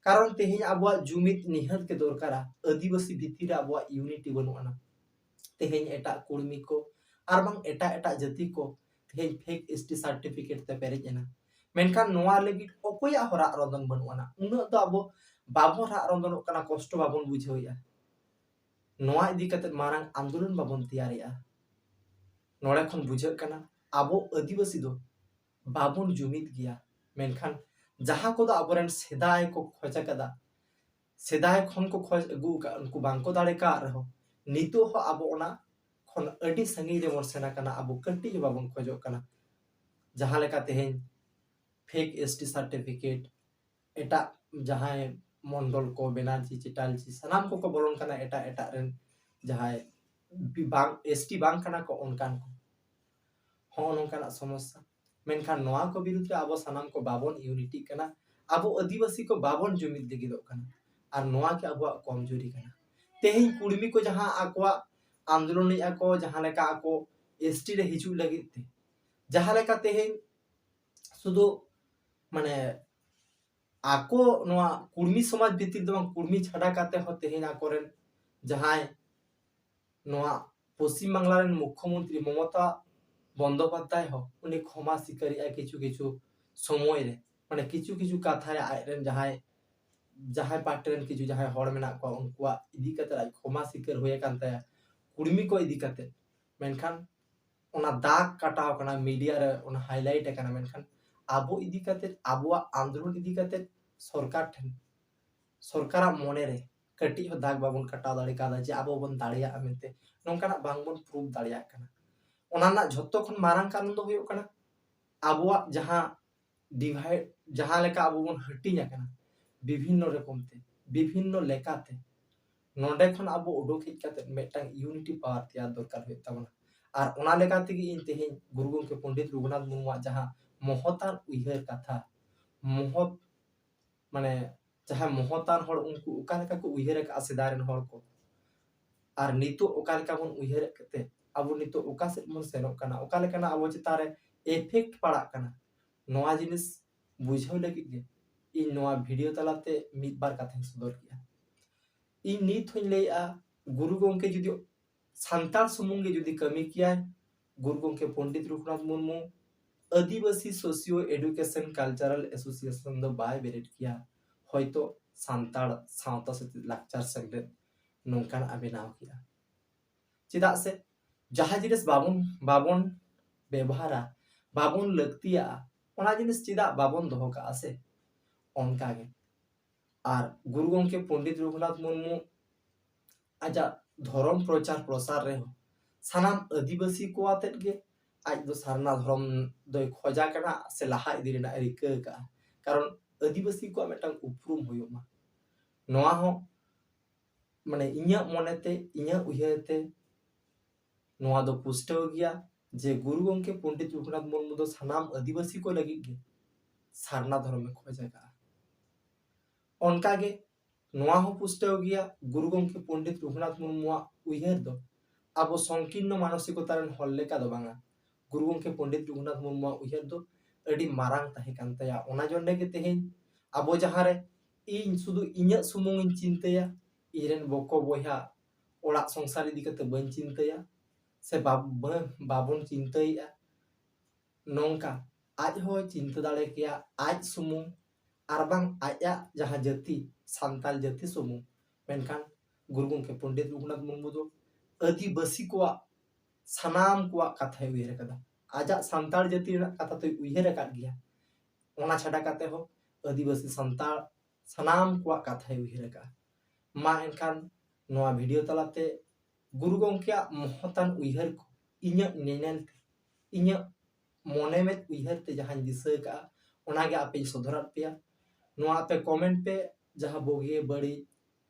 [SPEAKER 1] ᱠᱟᱨᱚᱱ ᱛᱮᱦᱮᱧ ᱟᱵᱚᱣᱟᱜ ᱡᱩᱢᱤᱫ ᱱᱤᱦᱟᱹᱛ ᱜᱮ ᱫᱚᱨᱠᱟᱨᱟ ᱟᱹᱫᱤᱵᱟᱹᱥᱤ ᱵᱷᱤᱛᱤᱨ ᱨᱮ ᱟᱵᱚᱣᱟᱜ ᱤᱭᱩᱱᱤᱴᱤ ᱵᱟᱹᱱᱩᱜ ᱟᱱᱟ ᱛᱮᱦᱮᱧ ᱮᱴᱟᱜ ᱠᱩᱲᱢᱤ ᱠᱚ ᱟᱨ ᱵᱟᱝ ᱮᱴᱟᱜ ᱮᱴᱟᱜ ᱡᱟᱹᱛᱤ ᱠᱚ ᱛᱮᱦᱮᱧ ᱯᱷᱮᱠ ᱮᱥᱴᱤ ᱥᱟᱨᱴᱤᱯᱷᱤᱠᱮᱴ ᱛᱮ ᱯᱮᱨᱮᱡ ᱮᱱᱟ ᱢᱮᱱᱠᱷᱟᱱ ᱱᱚᱣᱟ ᱞᱟᱹᱜᱤᱫ ᱚᱠᱚᱭᱟᱜ ᱦᱚᱸ ᱨᱟᱜ ᱨᱚᱫᱚᱱ ᱵᱟᱹᱱᱩᱜ ᱟᱱᱟ ᱩᱱᱟᱹᱜ ᱫᱚ ᱟᱵᱚ ᱵᱟᱵᱚᱱ ᱨᱟᱜ ᱨᱚᱫᱚᱱᱚᱜ ᱠᱟᱱᱟ ᱠᱚᱥᱴᱚ ᱵᱟᱵᱚᱱ ᱵᱩᱡᱷᱟᱹᱣᱮᱜᱼᱟ ᱱᱚᱣᱟ ᱤᱫᱤ ᱠᱟᱛᱮ ᱢᱟᱨᱟᱝ ᱟᱱᱫᱳᱞᱚᱱ ᱵᱟᱵᱚᱱ ᱛᱮᱭᱟᱨᱮᱜᱼᱟ ᱱᱚᱰᱮ ᱠᱷᱚᱱ ᱵᱩᱡᱷᱟᱹᱜ ᱠᱟᱱᱟ ᱟᱵᱚ ᱟᱹᱫᱤᱵᱟᱹᱥᱤ ᱫᱚ ᱵᱟᱵᱚᱱ ᱡᱩᱢᱤᱫ ᱜᱮᱭᱟ ᱢᱮᱱᱠᱷᱟᱱ ᱡᱟᱦᱟᱸ ᱠᱚᱫᱚ ᱟᱵᱚᱨᱮᱱ ᱥᱮᱫᱟᱭ ᱠᱚ ᱠᱷᱚᱡ ᱟᱠᱟᱫᱟ ᱥᱮᱫᱟᱭ ᱠᱷᱚᱱ ᱠᱚ ᱠᱷᱚᱡ ᱟᱹᱜᱩ ᱟᱠᱟᱫ ᱩᱱᱠᱩ ᱵᱟᱝᱠᱚ ᱫᱟᱲᱮ ᱠᱟᱜ ᱨᱮᱦᱚᱸ ᱱᱤᱛᱚᱜ ᱦᱚᱸ ᱟᱵᱚ ᱚᱱᱟ ᱠᱷᱚᱱ ᱟᱹᱰᱤ ᱥᱟᱺᱜᱤᱧ ᱨᱮᱵᱚᱱ ᱥᱮᱱ ᱟᱠᱟᱱᱟ ᱟᱵᱚ ᱠᱟᱹᱴᱤᱡ ᱦᱚᱸ ᱵᱟᱵᱚᱱ ᱠᱷᱚᱡᱚᱜ ᱠᱟᱱᱟ ᱡᱟᱦᱟᱸ ᱞᱮᱠᱟ ᱛᱮᱦᱮᱧ ᱯᱷᱮᱠ ᱮᱥ ᱴᱤ ᱥᱟᱨᱴᱤᱯᱷᱤᱠᱮᱴ ᱮᱴᱟᱜ ᱡᱟᱦᱟᱸᱭ ᱢᱚᱱᱰᱚᱞ ᱠᱚ ᱵᱮᱱᱟᱨᱡᱤ ᱪᱮᱴᱟᱨᱡᱤ ᱥᱟᱱᱟᱢ ᱠᱚᱠᱚ ᱵᱚᱞᱚᱱ ᱠᱟᱱᱟ ᱮᱴᱟᱜ ᱮᱴᱟᱜ ᱨᱮᱱ ᱡᱟᱦᱟᱸᱭ ᱵᱟᱝ ᱮᱥ ᱴᱤ ᱵᱟᱝ ᱠᱟᱱᱟ ᱠᱚ ᱚᱱᱠᱟᱱ ᱠᱚ ᱦᱚᱸᱜᱼᱚ ᱱᱚᱝᱠᱟᱱᱟᱜ ᱥᱚᱢᱚᱥᱥᱟ ᱢᱮᱱᱠᱷᱟᱱ ᱱᱚᱣᱟ ᱠᱚ ᱵᱤᱨᱩᱫᱽ ᱨᱮ ᱟᱵᱚ ᱥᱟᱱᱟᱢ ᱠᱚ ᱵᱟᱵᱚᱱ ᱤᱭᱩᱱᱤᱴᱤᱜ ᱠᱟᱱᱟ ᱟᱵᱚ ᱟᱹᱫᱤᱵᱟᱹᱥᱤ ᱠᱚ ᱵᱟᱵᱚᱱ ᱡᱩᱢᱤᱫ ᱞᱟᱹᱜᱤᱫᱚᱜ ᱠᱟᱱᱟ ᱟᱨ ᱱᱚᱣᱟ ᱜᱮ ᱟᱵᱚᱣᱟᱜ ᱠᱚᱢᱡᱩᱨᱤ ᱠᱟᱱᱟ ᱛᱮᱦᱮᱧ ᱠᱩᱲᱢᱤ ᱠᱚ ᱡᱟᱦᱟᱸ ᱟᱠᱚᱣᱟᱜ ᱟᱱᱫᱳᱞᱚᱱᱮᱜᱼᱟ ᱠᱚ ᱡᱟᱦᱟᱸ ᱞᱮᱠᱟ ᱟᱠᱚ ᱮᱥᱴᱤ ᱨᱮ ᱦᱤᱡᱩᱜ ᱞᱟᱹᱜᱤᱫ ᱛᱮ ᱡᱟᱦᱟᱸ ᱞᱮᱠᱟ ᱛᱮᱦᱮᱧ ᱥᱩᱫᱷᱩ ᱢᱟᱱᱮ ᱟᱠᱚ ᱱᱚᱣᱟ ᱠᱩᱲᱢᱤ ᱥᱚᱢᱟᱡᱽ ᱵᱷᱤᱛᱤᱨ ᱫᱚ ᱵᱟᱝ ᱠᱩᱲᱢᱤ ᱪᱷᱟᱰᱟ ᱠᱟᱛᱮ ᱦᱚᱸ ᱛᱮᱦᱮᱧ ᱟᱠᱚᱨᱮᱱ ᱡᱟᱦᱟᱸᱭ ᱱᱚᱣᱟ ᱯᱚᱥᱪᱤᱢ ᱵᱟᱝᱞᱟ ᱨᱮᱱ ᱢᱩᱠᱷᱭᱚᱢᱚᱱᱛᱨᱤ ᱢᱚᱢᱚᱛᱟ ᱵᱚᱱᱫᱚᱯᱟᱫᱽᱫᱷᱟᱭ ᱦᱚᱸ ᱩᱱᱤ ᱠᱷᱚᱢᱟ ᱥᱤᱠᱟᱹᱨᱤ ᱟᱭ ᱠᱤᱪᱷᱩ ᱠᱤᱪᱷᱩ ᱥᱚᱢᱚᱭ ᱨᱮ ᱢᱟᱱᱮ ᱠᱤᱪᱷᱩ ᱠᱤᱪᱷᱩ ᱠᱟᱛᱷᱟ ᱨᱮ ᱟᱡ ᱨᱮᱱ ᱡᱟᱦᱟᱸᱭ ᱡᱟᱦᱟᱸᱭ ᱯᱟᱨᱴᱤ ᱨᱮᱱ ᱠᱤᱪᱷᱩ ᱡᱟᱦᱟᱸᱭ ᱦᱚᱲ ᱢᱮᱱᱟᱜ ᱠᱚᱣᱟ ᱩᱱᱠᱩᱣᱟᱜ ᱤᱫᱤ ᱠᱟᱛᱮ ᱟᱡ ᱠᱷᱚᱢᱟ ᱥᱤᱠᱟᱹᱨ ᱦᱩᱭ ᱟᱠᱟᱱ ᱛᱟᱭᱟ ᱠᱩᱲᱢᱤ ᱠᱚ ᱤᱫᱤ ᱠᱟᱛᱮ ᱢᱮᱱᱠᱷᱟᱱ ᱚᱱᱟ ᱫᱟᱜ ᱠᱟᱴᱟᱣ ᱠᱟᱱᱟ ᱢᱤᱰᱤᱭᱟ ᱨᱮ ᱚᱱᱟ ᱦᱟᱭᱞᱟᱭᱤᱴ ᱟᱠᱟᱱᱟ ᱢᱮᱱᱠᱷᱟᱱ ᱟᱵᱚ ᱤᱫᱤ ᱠᱟᱛᱮ ᱟᱵᱚᱣᱟᱜ ᱟᱱᱫᱳᱞᱚᱱ ᱤᱫᱤ ᱠᱟᱛᱮ ᱥᱚᱨᱠᱟᱨ ᱴᱷᱮᱱ ᱥᱚᱨᱠᱟᱨᱟᱜ ᱢᱚᱱᱮ ᱨᱮ ᱠᱟᱹᱴᱤᱡ ᱦᱚᱸ ᱫᱟᱜᱽ ᱵᱟᱵᱚᱱ ᱠᱟᱴᱟᱣ ᱫᱟᱲᱮ ᱠᱟᱣᱫᱟ ᱡᱮ ᱟᱵᱚ ᱵᱚᱱ ᱫᱟᱲᱮᱭᱟᱜᱼᱟ ᱢᱮᱱᱛᱮ ᱱᱚᱝᱠᱟᱱᱟᱜ ᱵᱟᱝᱵᱚᱱ ᱯᱨᱩᱵᱷ ᱫᱟᱲᱮᱭᱟᱜ ᱠᱟᱱᱟ ᱚᱱᱟ ᱨᱮᱱᱟᱜ ᱡᱷᱚᱛᱚ ᱠᱷᱚᱱ ᱢᱟᱨᱟᱝ ᱠᱟᱨᱚᱱ ᱫᱚ ᱦᱩᱭᱩᱜ ᱠᱟᱱᱟ ᱟᱵᱚᱣᱟᱜ ᱡᱟᱦᱟᱸ ᱰᱤᱵᱷᱟᱭᱤᱰ ᱡᱟᱦᱟᱸ ᱞᱮᱠᱟ ᱟᱵᱚ ᱵᱚᱱ ᱦᱟᱹᱴᱤᱧ ᱟᱠᱟᱱᱟ ᱵᱤᱵᱷᱤᱱᱱᱚ ᱨᱚᱠᱚᱢ ᱛᱮ ᱵᱤᱵᱷᱤᱱᱱᱚ ᱞᱮᱠᱟᱛᱮ ᱱᱚᱰᱮ ᱠᱷᱚᱱ ᱟᱵᱚ ᱩᱰᱩᱠ ᱦᱮᱡ ᱠᱟᱛᱮ ᱢᱤᱫᱴᱟᱝ ᱤᱭᱩᱱᱤᱴᱤ ᱯᱟᱣᱟᱨ ᱛᱮᱭᱟᱨ ᱫᱚᱨᱠᱟᱨ ᱦᱩᱭᱩᱜ ᱛᱟᱵᱚᱱᱟ ᱟᱨ ᱚᱱᱟ ᱞᱮᱠᱟ ᱛᱮᱜᱮ ᱤᱧ ᱛᱮᱦᱮᱧ ᱜᱩᱨᱩ ᱜᱚᱢᱠᱮ ᱯᱚᱱᱰᱤᱛ ᱨᱚᱜᱷᱩᱱᱟᱛᱷ ᱢᱩᱨᱢᱩᱣᱟᱜ ᱡᱟᱦᱟᱸ ᱢᱚᱦᱚᱛᱟᱱ ᱩᱭᱦᱟᱹᱨ ᱠᱟᱛᱷᱟ ᱢᱚᱦᱚᱛ ᱢᱟᱱᱮ ᱡᱟᱦᱟᱸᱭ ᱢᱚᱦᱚᱛᱟᱱ ᱦᱚᱲ ᱩᱱᱠᱩ ᱚᱠᱟ ᱞᱮᱠᱟ ᱠᱚ ᱩᱭᱦᱟᱹᱨ ᱟᱠᱟᱫᱼᱟ ᱥᱮᱫᱟᱭ ᱨᱮᱱ ᱦᱚᱲ ᱠᱚ ᱟᱨ ᱱᱤᱛᱚᱜ ᱚᱠᱟ ᱞᱮᱠᱟ ᱵᱚᱱ ᱩᱭᱦᱟᱹᱨ ᱠᱟᱛᱮ ᱟᱵᱚ ᱱᱤᱛᱚᱜ ᱚᱠᱟ ᱥᱮᱫ ᱵᱚᱱ ᱥᱮᱱᱚᱜ ᱠᱟᱱᱟ ᱚᱠᱟ ᱞᱮᱠᱟᱱᱟᱜ ᱟᱵᱚ ᱪᱮᱛᱟᱱ ᱨᱮ ᱮᱯᱷᱮᱠᱴ ᱯᱟᱲᱟᱜ ᱠᱟᱱᱟ ᱱᱚᱣᱟ ᱡᱤᱱᱤᱥ ᱵᱩᱡᱷᱟᱹᱣ ᱞᱟᱹᱜᱤᱫ ᱜᱮ ᱤᱧ ᱱᱚᱣᱟ ᱵᱷᱤᱰᱤᱭᱳ ᱛᱟᱞᱟᱛᱮ ᱢᱤᱫ ᱵᱟᱨ ᱠᱟᱛᱷᱟᱧ ᱥᱚᱫᱚᱨ ᱠᱮᱫᱼᱟ ᱤᱧ ᱱᱤᱛ ᱦᱚᱧ ᱞᱟᱹᱭᱮᱫᱼᱟ ᱜᱩᱨᱩ ᱜᱚᱢᱠᱮ ᱡᱩᱫᱤ ᱥᱟᱱᱛᱟᱲ ᱥᱩᱢᱩᱝ ᱜᱮ ᱡᱩᱫᱤ ᱠᱟᱹᱢᱤ ᱠᱮᱭᱟᱭ ᱜᱩᱨᱩ ᱜᱚᱢᱠᱮ Pandit Raghunath Murmu Adivasi socio education cultural association ᱫᱚ ᱵᱟᱭ ᱵᱮᱨᱮᱫ ᱠᱮᱭᱟ ᱦᱚᱭᱛᱳ ᱥᱟᱱᱛᱟᱲ ᱥᱟᱶᱛᱟ ᱥᱮᱪᱮᱫ ᱞᱟᱠᱪᱟᱨ ᱥᱮᱢᱞᱮᱫ ᱱᱚᱝᱠᱟᱱᱟᱜ ᱮ ᱵᱮᱱᱟᱣ ᱠᱮᱜᱼᱟ ᱪᱮᱫᱟᱜ ᱥᱮ ᱡᱟᱦᱟᱸ ᱡᱤᱱᱤᱥ ᱵᱟᱵᱚᱱ ᱵᱟᱵᱚᱱ ᱵᱮᱵᱚᱦᱟᱨᱟ ᱵᱟᱵᱚᱱ ᱞᱟᱹᱠᱛᱤᱭᱟᱜᱼᱟ ᱚᱱᱟ ᱡᱤᱱᱤᱥ ᱪᱮᱫᱟᱜ ᱵᱟᱵᱚᱱ ᱫᱚᱦᱚ ᱠᱟᱜᱼᱟ ᱥᱮ ᱚᱱᱠᱟᱜᱮ ᱟᱨ ᱜᱩᱨᱩ ᱜᱚᱢᱠᱮ ᱯᱚᱱᱰᱤᱛ ᱨᱚᱜᱷᱩᱱᱟᱛᱷ ᱢᱩᱨᱢᱩ ᱟᱡᱟᱜ ᱫᱷᱚᱨᱚᱢ ᱯᱨᱚᱪᱟᱨ ᱯᱨᱚᱥᱟᱨ ᱨᱮ ᱦᱚᱸ ᱥᱟᱱᱟᱢ ᱟᱹᱫᱤᱵᱟᱹᱥᱤ ᱠᱚ ᱟᱛᱮ ᱜᱮ ᱟᱡ ᱫᱚ ᱥᱟᱨᱱᱟ ᱫᱷᱚᱨᱚᱢ ᱫᱚᱭ ᱠᱷᱚᱡᱟ ᱠᱟᱱᱟ ᱥᱮ ᱞᱟᱦᱟ ᱤᱫᱤ ᱨᱮᱱᱟᱜ ᱮ ᱨᱤᱠᱟᱹ ᱟᱠᱟᱫᱼᱟ ᱠᱟᱨᱚᱱ ᱟᱹᱫᱤᱵᱟᱹᱥᱤ ᱠᱚᱣᱟᱜ ᱢᱤᱫᱴᱟᱝ ᱩᱯᱨᱩᱢ ᱦᱩᱭᱩᱜ ᱢᱟ ᱱᱚᱣᱟ ᱦᱚᱸ ᱢᱟᱱᱮ ᱤᱧᱟᱹᱜ ᱢᱚᱱᱮ ᱛᱮ ᱤᱧᱟᱹᱜ ᱩᱭᱦᱟᱹᱨ ᱛᱮ ᱱᱚᱣᱟ ᱫᱚ ᱯᱩᱥᱴᱟᱹᱣ ᱜᱮᱭᱟ ᱡᱮ ᱜᱩᱨᱩ ᱜᱚᱢᱠᱮ ᱯᱚᱱᱰᱤᱛ ᱨᱚᱜᱷᱩᱱᱟᱛᱷ ᱢᱩᱨᱢᱩ ᱫᱚ ᱥᱟᱱᱟᱢ ᱟᱹᱫᱤᱵᱟᱹᱥᱤ ᱠᱚ ᱞᱟᱹᱜᱤᱫ ᱜᱮ ᱥᱟᱨᱱᱟ ᱫᱷᱚᱨᱚᱢ ᱮ ᱠᱷᱚᱡ ᱟᱠᱟᱫᱼᱟ ᱚᱱᱠᱟ ᱜᱮ ᱱᱚᱣᱟ ᱦᱚᱸ ᱯᱩᱥᱴᱟᱹᱣ ᱜᱮᱭᱟ ᱜᱩᱨᱩ ᱜᱚᱢᱠᱮ ᱯᱚᱱᱰᱤᱛ ᱨᱚᱜᱷᱩᱱᱟᱛᱷ ᱢᱩᱨᱢᱩᱣᱟᱜ ᱩᱭᱦᱟᱹᱨ ᱫᱚ ᱟᱵᱚ ᱥᱚᱝᱠᱤᱨᱱᱚ ᱢᱟᱱᱚᱥᱤᱠᱚᱛᱟ ᱨᱮᱱ ᱦᱚᱲ ᱞᱮᱠᱟ ᱫᱚ ᱵᱟᱝᱟ ᱜᱩᱨᱩ ᱜᱚᱢᱠᱮ ᱯᱚᱱᱰᱤᱛ ᱨᱚᱜᱷᱩᱱᱟᱛᱷ ᱢᱩᱨᱢᱩᱣᱟᱜ ᱩᱭᱦᱟᱹᱨ ᱫᱚ ᱟᱹᱰᱤ ᱢᱟᱨᱟᱝ ᱛᱟᱦᱮᱸ ᱠᱟᱱ ᱛᱟᱭᱟ ᱚᱱᱟ ᱡᱚᱱᱱᱮ ᱜᱮ ᱛᱮᱦᱮᱧ ᱟᱵᱚ ᱡᱟᱦᱟᱸ ᱨᱮ ᱤᱧ ᱥᱩᱫᱷᱩ ᱤᱧᱟᱹᱜ ᱥᱩᱢᱩᱝ ᱤᱧ ᱪᱤᱱᱛᱟᱹᱭᱟ ᱤᱧ ᱨᱮᱱ ᱵᱚᱠᱚ ᱵᱚᱭᱦᱟ ᱚᱲᱟᱜ ᱥᱚᱝᱥᱟᱨ ᱤᱫᱤ ᱠᱟᱛᱮ ᱵᱟᱹᱧ ᱪᱤᱱᱛᱟᱹᱭᱟ ᱥᱮ ᱵᱟᱵᱚᱱ ᱪᱤᱱᱛᱟᱹᱭᱮᱫᱼᱟ ᱱᱚᱝᱠᱟ ᱟᱡ ᱦᱚᱸ ᱪᱤᱱᱛᱟᱹ ᱫᱟᱲᱮ ᱠᱮᱭᱟ ᱟᱡ ᱥᱩᱢᱩᱝ ᱟᱨᱵᱟᱝ ᱟᱡᱟᱜ ᱡᱟᱦᱟᱸ ᱡᱟᱹᱛᱤ ᱥᱟᱱᱛᱟᱞ ᱡᱟᱹᱛᱤ ᱥᱩᱢᱩᱝ ᱢᱮᱱᱠᱷᱟᱱ ᱜᱩᱨᱩ ᱜᱚᱢᱠᱮ ᱯᱚᱱᱰᱤᱛ ᱨᱚᱜᱷᱩᱱᱟᱛᱷ ᱢᱩᱨᱢᱩ ᱫᱚ ᱟᱹᱫᱤᱵᱟᱹᱥᱤ ᱠᱚᱣᱟᱜ ᱥᱟᱱᱟᱢ ᱠᱚᱣᱟᱜ ᱠᱟᱛᱷᱟᱭ ᱩᱭᱦᱟᱹᱨ ᱟᱠᱟᱫᱟ ᱟᱡᱟᱜ ᱥᱟᱱᱛᱟᱲ ᱡᱟᱹᱛᱤ ᱨᱮᱱᱟᱜ ᱠᱟᱛᱷᱟ ᱫᱚᱭ ᱩᱭᱦᱟᱹᱨ ᱟᱠᱟᱫ ᱜᱮᱭᱟ ᱚᱱᱟ ᱪᱷᱟᱰᱟ ᱠᱟᱛᱮ ᱦᱚᱸ ᱟᱹᱫᱤᱵᱟᱹᱥᱤ ᱥᱟᱱᱛᱟᱲ ᱥᱟᱱᱟᱢ ᱠᱚᱣᱟᱜ ᱠᱟᱛᱷᱟᱭ ᱩᱭᱦᱟᱹᱨ ᱟᱠᱟᱫᱼᱟ ᱢᱟ ᱮᱱᱠᱷᱟᱱ ᱱᱚᱣᱟ ᱵᱷᱤᱰᱤᱭᱳ ᱛᱟᱞᱟᱛᱮ ᱜᱩᱨᱩ ᱜᱚᱢᱠᱮᱭᱟᱜ ᱢᱚᱦᱚᱛᱟᱱ ᱩᱭᱦᱟᱹᱨ ᱠᱚ ᱤᱧᱟᱹᱜ ᱧᱮᱧᱮᱞ ᱛᱮ ᱤᱧᱟᱹᱜ ᱢᱚᱱᱮ ᱢᱮᱫ ᱩᱭᱦᱟᱹᱨ ᱛᱮ ᱡᱟᱦᱟᱸᱧ ᱫᱤᱥᱟᱹ ᱠᱟᱜᱼᱟ ᱚᱱᱟᱜᱮ ᱟᱯᱮᱧ ᱥᱚᱫᱚᱨᱟᱫ ᱯᱮᱭᱟ ᱱᱚᱣᱟ ᱟᱯᱮ ᱠᱚᱢᱮᱱᱴ ᱯᱮ ᱡᱟᱦᱟᱸ ᱵᱩᱜᱤ ᱵᱟᱹᱲᱤᱡ